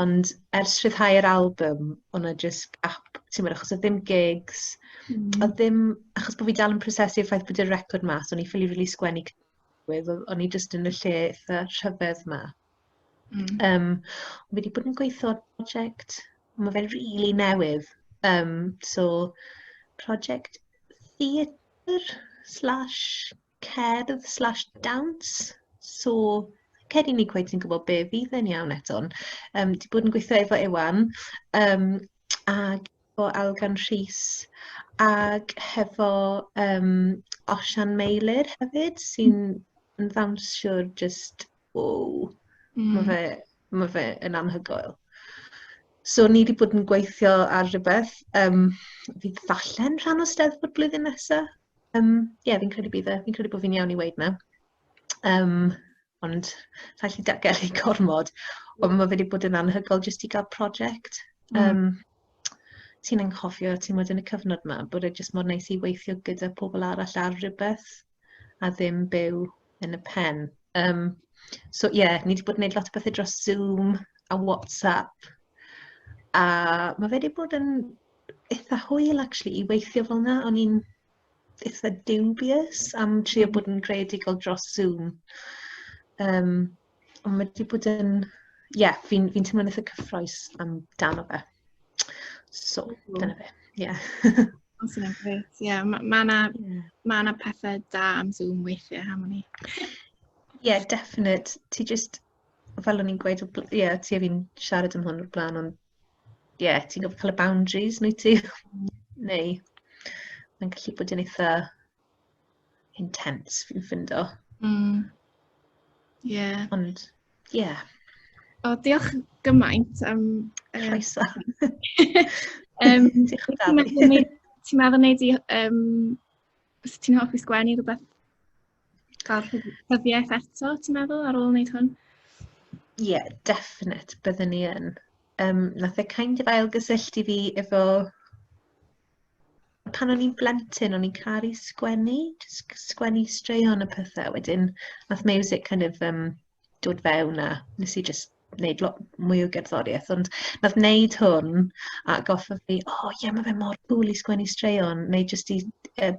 S1: Ond ers rhyddhau'r album, oedd 'na jyst gap, timod, achos oedd dim gigs, oedd dim... Achos bod fi dal yn prosesu'r ffaith bod y record mas, o'n i ffili rili sgwennu c- oedd o- o'n i jyst yn y lle eitha rhyfedd 'ma. Mm. Yym, fi wedi bod yn gweithio ar project, mae fe'n rili newydd, yym, so project theatr slash cerdd slash dawns, so cer i ni cweith sy'n gwybod be fydd yn iawn eto'n. Um, di bod yn gweithio efo Ewan um, ac efo Algan Rhys ac hefo um, Osian Meilir hefyd sy'n yn ddawnsiwr just, wow, mm. mae fe, ma fe yn anhygoel. So ni wedi bod yn gweithio ar rhywbeth, um, fydd falle'n rhan o steddfod blwyddyn nesaf, Um, ie, yeah, fi'n credu bydd e. Fi'n credu bod fi'n iawn i weid na. Um, ond rhaid i dagel i gormod. Ond mae wedi bod yn anhygol jyst i gael prosiect. Um, mm. Ti'n anghofio, ti'n bod yn y cyfnod yma, bod e jyst mor neis i weithio gyda pobl arall ar rhywbeth a ddim byw yn y pen. Um, so ie, yeah, ni wedi bod yn gwneud lot o bethau dros Zoom a WhatsApp. A mae wedi bod yn eitha hwyl actually i weithio fel yna. O'n i'n eitha dubious am trio bod yn creadigol dros Zoom. Um, ond mae wedi bod yn... Ie, yeah, fi'n fi, teimlo'n eitha cyffroes am dan o fe. So, mm. dyna fe. Ie. Yeah. Os yna'n gret. Ie, yeah, mae ma yna yeah. ma yna pethau da am Zoom weithiau, ham o'n i. Ie, yeah, definite. Ti just, fel o'n i'n gweud, ie, yeah, ti a fi'n siarad am hwn o'r blaen, ond ie, ti'n gorfod cael y boundaries neu ti? neu mae'n gallu bod yn eitha intense fi'n ffindo. Mm. Yeah. Ond, ie. Yeah. O, diolch gymaint am... Um, Croeso. um, diolch yn fawr. Ti'n meddwl wneud i... Um, ti'n hoffi sgwennu rhywbeth cael rhyddiaeth eto, ti'n meddwl, ar ôl wneud hwn? Ie, yeah, definite, byddwn ni yn. Um, nath e kind of ail gysylltu fi efo... Pan o'n i'n blentyn, o'n i'n caru sgwennu, sgwennu straeon y pethau. Wedyn, nath music kind of um, dod fewn a nes i just wneud lot mwy o gerddoriaeth, ond nath wneud hwn a goffa fi, o oh, ie, yeah, mae fe mor cool i sgwennu straeon, neu jyst i uh,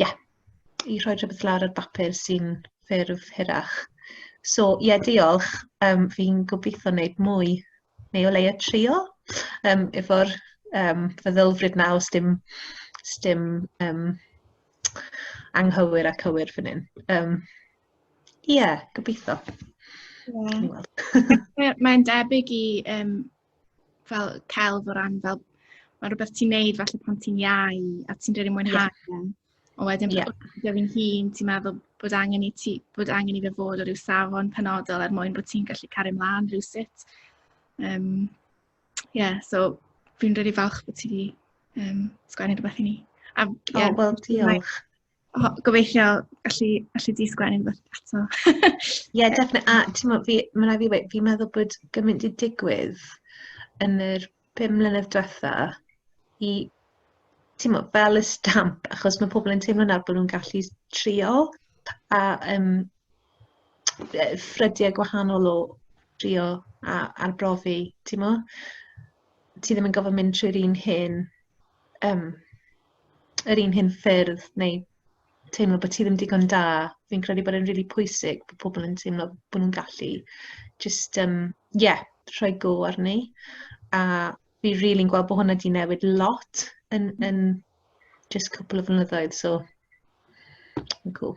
S1: yeah, i rhoi rhywbeth lawr ar bapur sy'n ffurf hirach. So, ie, yeah, diolch. Um, fi'n gobeithio wneud mwy, neu o leia trio, um, efo'r um, feddylfryd na os dim, os dim um, anghywir a cywir fan hyn. Um, ie, yeah, gobeithio. Yeah. Mae'n debyg i um, fel celf o ran fel mae rhywbeth ti'n neud falle pan ti'n iau a ti'n rhaid i mwynhau. Yeah. Ond wedyn, yeah. gyda fi'n hun, ti'n meddwl bod angen i ti, bod angen i fe fod o ryw safon penodol er mwyn bod ti'n gallu cario mlaen rhywsut. Um, yeah, so fi'n rili really falch bod ti wedi um, sgwennu rhywbeth i ni. A, oh, yeah, oh, wel, diolch. Oh, gobeithio allu, allu di sgwennu rhywbeth eto. Ie, yeah, definitely. A ti'n meddwl, fi, mae'n rhaid fi wedi, fi'n meddwl bod gymaint i digwydd yn yr pum mlynedd diwetha i ti'n mo, fel y stamp, achos mae pobl yn teimlo nawr bod nhw'n gallu trio a um, ffrydiau gwahanol o trio a arbrofi, ti'n mo? Ti ddim yn gofod mynd trwy'r un hyn, um, yr un hyn ffyrdd neu teimlo bod ti ddim digon da. Fi'n credu bod e'n rili pwysig bod pobl yn teimlo bod nhw'n gallu jyst, um, yeah, rhoi go arni. A fi rili'n really gweld bod hwnna wedi newid lot yn, yn just cwpl o flynyddoedd, so yn cool.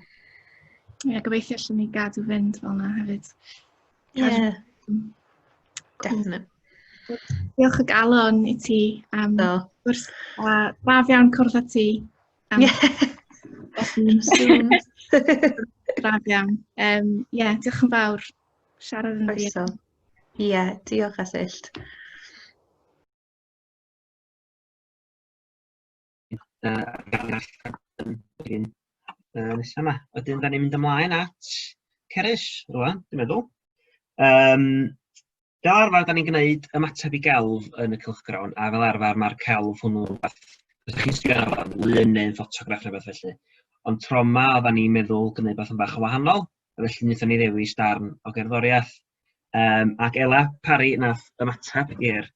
S1: Ie, yeah, gobeithio allan ni gadw fynd fel yna hefyd. Ie, yeah. definitely. Diolch o galon i ti am um, gwrs. A braf iawn cwrdd â ti. Am, os yw'n sŵn. Gradd iawn. Um, yeah, diolch yn fawr. Siarad yn ddi. Ie, yeah, diolch Asyllt. Nesa yma. Wedyn, da ni'n mynd ymlaen at Ceres, rwan, dwi'n meddwl. Um, Fel arfer, da ni'n gwneud ymateb i gelf yn y cylchgrawn, a fel arfer mae'r celf hwnnw rhywbeth os chi'n sbio arno fo'n lun neu'n ffotograff neu beth felly. Ond tro yma, oedden ni'n meddwl gwneud beth yn bach o wahanol, a felly wnaethon ni ddewis darn o gerddoriaeth. Um, ac Ela Parry nath ymateb i'r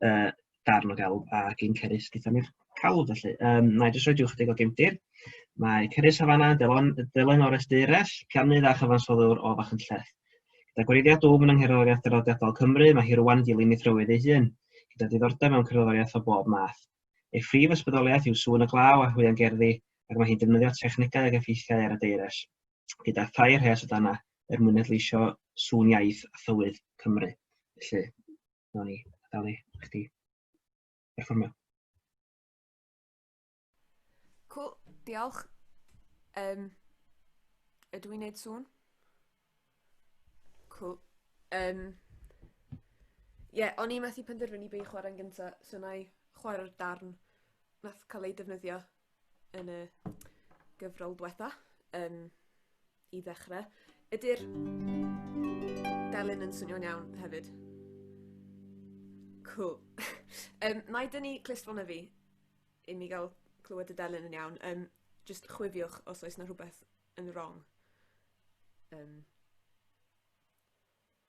S1: uh, darn o gelf a gyn cerys gyda ni'r calw felly. Um, na i jyst roi diwch ychydig o gymdir. Mae Cerys Havana, Delon, Dylan o'r Esteires, Piannydd a Chyfansoddwr o Fach yn Lleth. Gyda gwreiddiau dwf yn yngherddoriaeth dyroddiadol Cymru, mae hi rwan dilyn ei thrywydd ei hun, gyda diddordeb mewn cerddoriaeth o bob math. Ei phrif ysbrydoliaeth yw sŵn y glaw a hwyan gerddi, ac mae hi'n defnyddio technegau ag effeithiau ar y deires, gyda thair rhes o dana er mwyn edleisio sŵn iaith a thywydd Cymru. Felly, Nawn ni adael i chdi perfformio. Cool, diolch. Um, ydw i'n neud sŵn? Cool. Um, Ie, yeah, o'n i methu penderfynu be i chwarae'n gyntaf, so na i chwarae'r darn nath cael ei defnyddio yn y gyfrol dwetha yn i ddechre. Ydy'r delyn yn swnio'n iawn hefyd? Cool. um, na i dynnu clustfon y fi i mi gael clywed y delyn yn iawn. Um, just chwifiwch os oes na rhywbeth yn wrong. Um,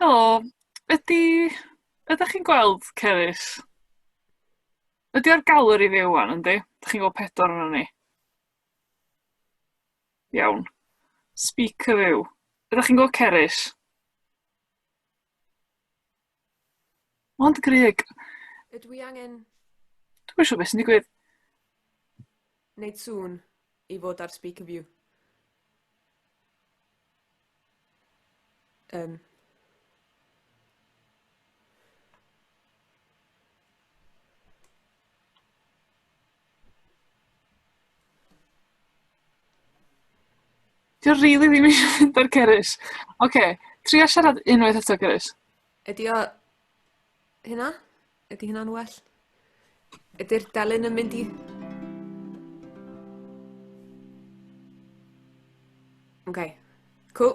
S1: Helo, ydi... ydach chi'n gweld Cerys? Ydi o ar galer i fi ŵan yndi? Dach chi'n gweld pedwar ohonon ni? Iawn. Speaker view. Ydach chi'n gweld Cerys? Ond Greg... Ydw i angen... Dwi'm yn siŵr beth sy'n digwydd. Wneud sŵn i fod ar speaker view. Um. Dwi rili ddim isio mynd ar Cerys. Oce, tria siarad unwaith eto Cerys. Ydy o... Hynna? Ydy hynna'n well? Ydy'r delyn yn mynd i... Oce. Cool.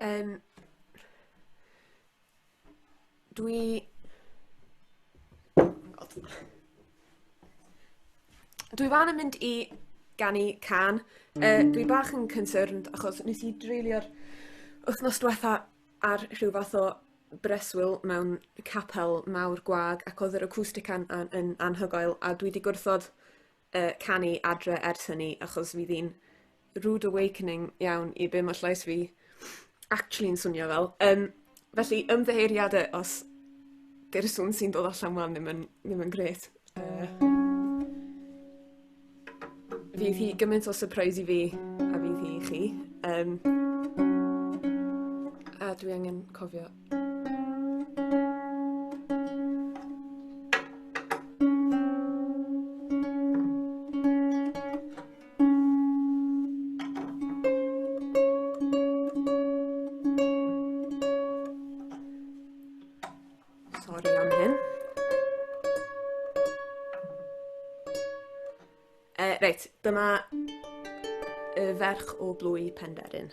S1: Um, dwi... Oh God. Dwi fan yn mynd i ganu can. Uh, dwi bach yn concerned achos nes i dreulio'r wythnos diwetha ar rhyw fath o breswyl mewn capel mawr gwag ac odd yr acwstic an- an- yn anhygoel a dwi 'di gwrthod yy canu adre ers hynny achos fydd 'i'n rude awakening iawn i be' ma' llais fi actually'n swnio fel. Yym felly ymddiheuriade os 'di'r swn sy'n dod allan 'wan ddim yn ddim yn grêt. Yy. Fydd hi gymaint o surprise i fi a fydd hi i chi. Yym. A dwi angen cofio. Sorry am hyn. Uh, reit, dyma y ferch o blwy Penderyn.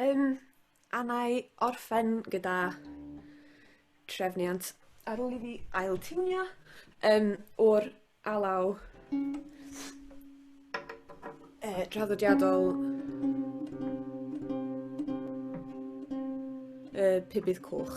S1: Um, a na i orffen gyda trefniant ar ôl i fi ail tiwnio um, o'r alaw uh, draddodiadol uh, pibydd coch.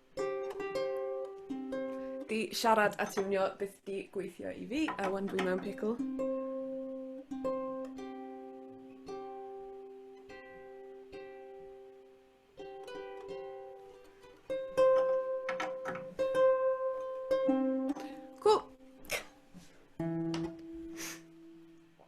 S1: Di siarad a tiwnio byth di gweithio i fi, a wan dwi mewn pickle.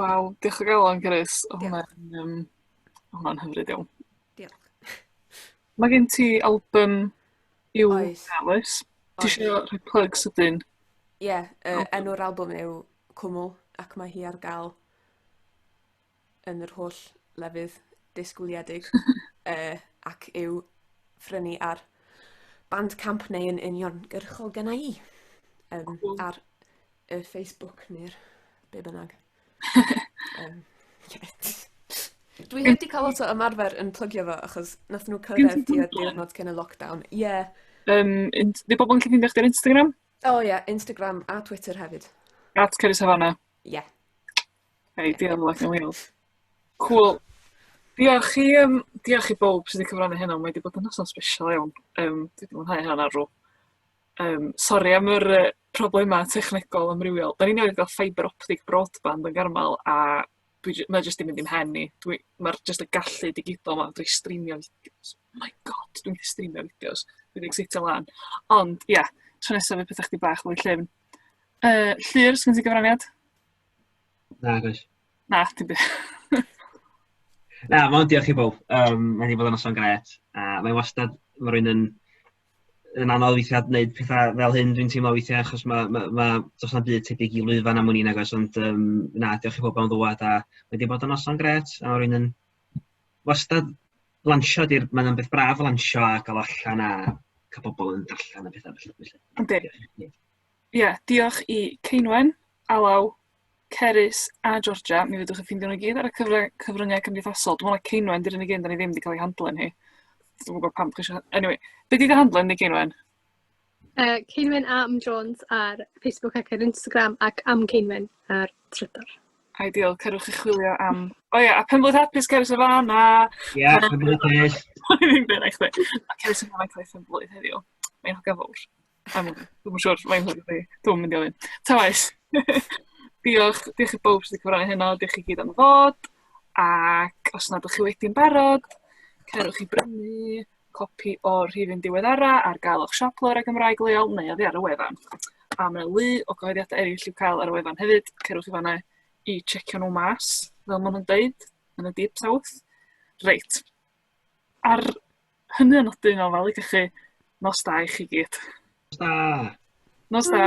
S1: Waw, diolch o galon, Carys. Oedd hwnna'n um, hwnna hyfryd iawn. Diolch. Mae gen ti album i'w dewis. Ti eisiau rhoi plug sydyn? Ie, yeah, uh, enw'r album yw Cwmwl ac mae hi ar gael yn yr holl lefydd disgwyliedig yy ac yw ffrynu ar Bandcamp neu yn uniongyrchol gynna i. Yym cŵl. ar y Facebook neu'r be' bynnag. yym ie. Dwi heb 'di ca'l lot o ymarfer yn plygio fo achos nathon nw cyrraedd... Gen ti tua Tumblr? ...diwrnod cyn y lockdown. Ie. Yym int- 'di bobol yn gallu ffeindio chdi ar Instagram? O ie Instagram a Twitter hefyd. At Cerys Havana? Ie. Hey, di yn Black and Wales. Cŵl. Diolch i yym diolch i bowb sy 'di cyfrannu heno mae 'di bod yn noson sbesial iawn yym dwi 'di mwynhau hynna'n arw. Yym sori am yr yy problema technegol amrywiol. 'Dan ni newydd ga'l fibre optic broadband yn Garmel a dwi j- mae o jyst 'di mynd i'm mhen i. Dwi ma'r jyst y gallu digidol 'ma drwy streamio fideos my God dwi'n gallu streamio fideos dwi 'di ecseitio lan. Ond ia tro nesa fydd petha chydig bach fwy llyfn. Yy Llŷr sgyn ti gyfraniad? Na, gwaith. Na, ti'n byth. Na, mae'n diolch i bob. Um, mae'n ei fod yn noson gret. A mae'n wastad, mae rhywun yn, yn anodd weithiau gwneud pethau fel hyn, dwi'n teimlo weithiau, achos mae, ma, ma, dos na byd tebyg i lwyfan am wni'n agos, ond um, na, diolch i bob am ddwad, a mae wedi bod yn noson gret, a mae rhywun yn wastad lansio, di'r, mae'n beth braf lansio a gael allan a cael pobl yn darllen a bethau felly. Ynddi. Ie, diolch i Ceinwen, Alaw, Cerys a Georgia. Mi fyddwch yn ffeindio nhw i gyd ar y cyfry- cyfryngau cymdeithasol. Dwi'n meddwl na Ceinwen di'r unig un da ni ddim wedi cael ei handlen hi. Dwi'n gwybod pam chi eisiau... Anyway, be di dy handlen ni, Ceinwen? Uh, Ceinwen a Am Jones ar Facebook ac ar Instagram ac Am Ceinwen ar Twitter. Ideal, cerwch i chwilio am... O ie, a Penblwydd Hapus, Cerys y Fan a... Ie, Penblwydd Hapus. Dwi'n byr eich dweud. Cerys y Fan a Cerys y Blwydd heddiw. Mae'n hogan fawr. Am wn i. Dwi'm yn siŵr faint o fi. Dwi'm yn mynd i ofyn. Ta waeth. Diolch. Diolch i bawb sy 'di cyfrannu heno. Diolch chi gyd am ddod. Ac os nad 'dych chi wedi'n barod, cerwch i brynu copi o'r rhifyn diweddara ar gael o'ch siop lawr ar Gymraeg leol neu oddi ar y wefan. A mae 'na lu o gyhoeddiadau eraill i'w cael ar y wefan hefyd. Cerwch i fan'na i tsiecio nhw mas, fel maen nhw'n deud, yn y deep south. Reit. Ar hynny o nodyn o fel i chi, nos da i chi gyd. Nos da! Nos da!